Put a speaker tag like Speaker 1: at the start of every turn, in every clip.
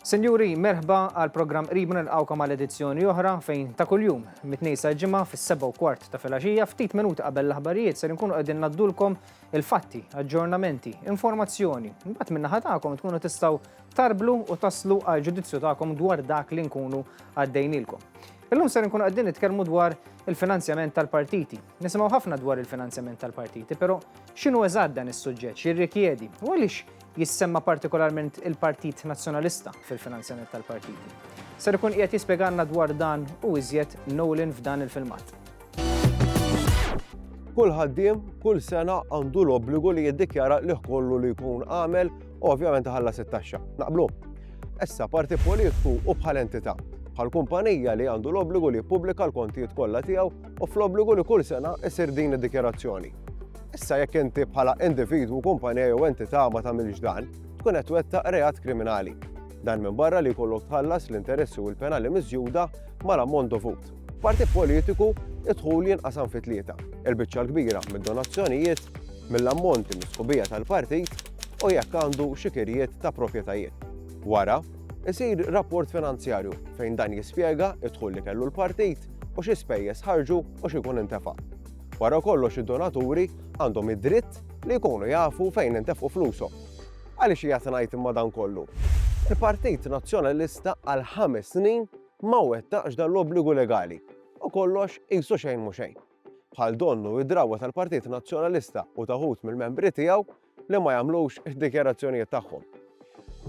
Speaker 1: Sinjuri, merħba għal programm qribu nilqawkom għal edizzjoni oħra fejn ta' kuljum mit-tnejn sa' ġimgħa fis-seba' u kwart ta' filgħaxija ftit minuti qabel l-aħbarijiet ser inkunu qegħdin naddulkom il-fatti, aġġornamenti, informazzjoni. Mbagħad min-naħa tagħkom tkunu tistgħu tarblu u taslu għal ġudizzju tagħkom dwar dak li nkunu għaddejnilkom. Illum ser nkunu qegħdin nitkellmu dwar il-finanzjament tal-partiti. Nisimgħu ħafna dwar il-finanzjament tal-partiti, però x'inhu eżatt dan is-suġġett x'jirrikjedi u għaliex Jissemma partikolarment il-Partit Nazzjonalista fil-finanzjament tal-partiti. Ser ikun qiegħed jispjegalna dwar dan u iżjed Nolan f'dan il-filmat.
Speaker 2: Kull ħaddiem kull sena għandu l-obbligu li jiddikjara li kollu li jkun għamel u ovvjament ħalla it-taxxa. Naqblu. Issa parti politiku u bħal entità bħal kumpanija li għandu l-obbligu li jippubblika l-kontijiet kollha tiegħu u fl-obbligu li kull sena isir din id-dikjarazzjoni. Issa jekk inti bħala individwu, kumpanija jew entità ma tagħmilx dan, tkun qed twettaq reat kriminali. Dan minn barra li jkollok tħallas l-interessi u l-penali miżjuda mal-ammont dovut. Parti politiku, id-dħul jinqasam fi tlieta. Il-biċċa l-kbira mid-donazzjonijiet, mill-ammonti mis-sħubija tal-partit u jekk għandu xikirijiet ta' proprjetajiet. Wara, isir rapport finanzjarju fejn dan jispjega id-dħul li kellu l-partit u xi spejjeż ħarġu u xi jkun intefa'. Wara kollox id-donaturi għandhom id-dritt li jkunu jafu fejn intefqu flushom. Għaliex qiegħed ngħid imma dan kollu? Il-Partit Nazzjonalista għal ħames snin ma wettaqx dan l-obbligu legali u kollox qisu xejn mhu xejn. Bħal donnu id-drawwa tal-Partit Nazzjonalista u ta' wħud mill-membri tiegħu li ma jagħmlux id-dikjarazzjonijiet tagħhom.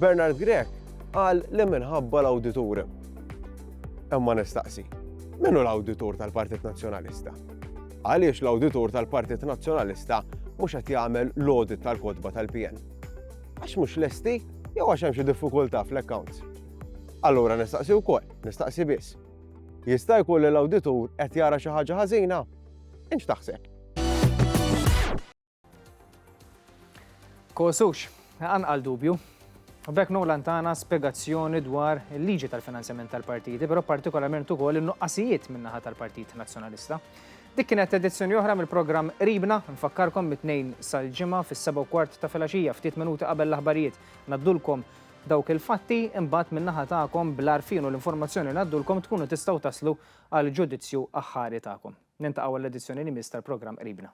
Speaker 2: Bernard Grech qal li minħabba l-awditur. Imma nistaqsi, min hu l-awditur tal-Partit Nazzjonalista? Għaliex l-awditur tal-Partit Nazzjonalista mhux qed jagħmel l-audit tal-kodba tal-PN? Għax mhux lesti jew għax hemm xi diffikultà fl-accounts. Allura nistaqsi wkoll, nistaqsi biss. Jista' jkun li l-awditur qed jara xi ħaġa ħażina? Inx taħseb?
Speaker 1: Kosux, anqal dubju. U bekk Nolan tana spjegazzjoni dwar il-liġi tal-finanzjament tal-partiti, però partikolarment ukoll in-nuqqasijiet min-naħa tal-Partit Nazzjonalista. Dik kienet edizzjoni oħra mill-programm Qribna, nfakkarkom mit-tnejn sal-ġimgħa fis-7 kwart ta' filgħaxija ftit minuti qabel l-aħbarijiet. Naddulkom dawk il-fatti imbagħad min-naħa tagħkom bl-għarfien u l-informazzjoni naddulkom tkunu tistgħu taslu għal ġudizzju aħħari tagħkom. Nintaqgħu għall-edizzjoni li miss tal-programm Qribna.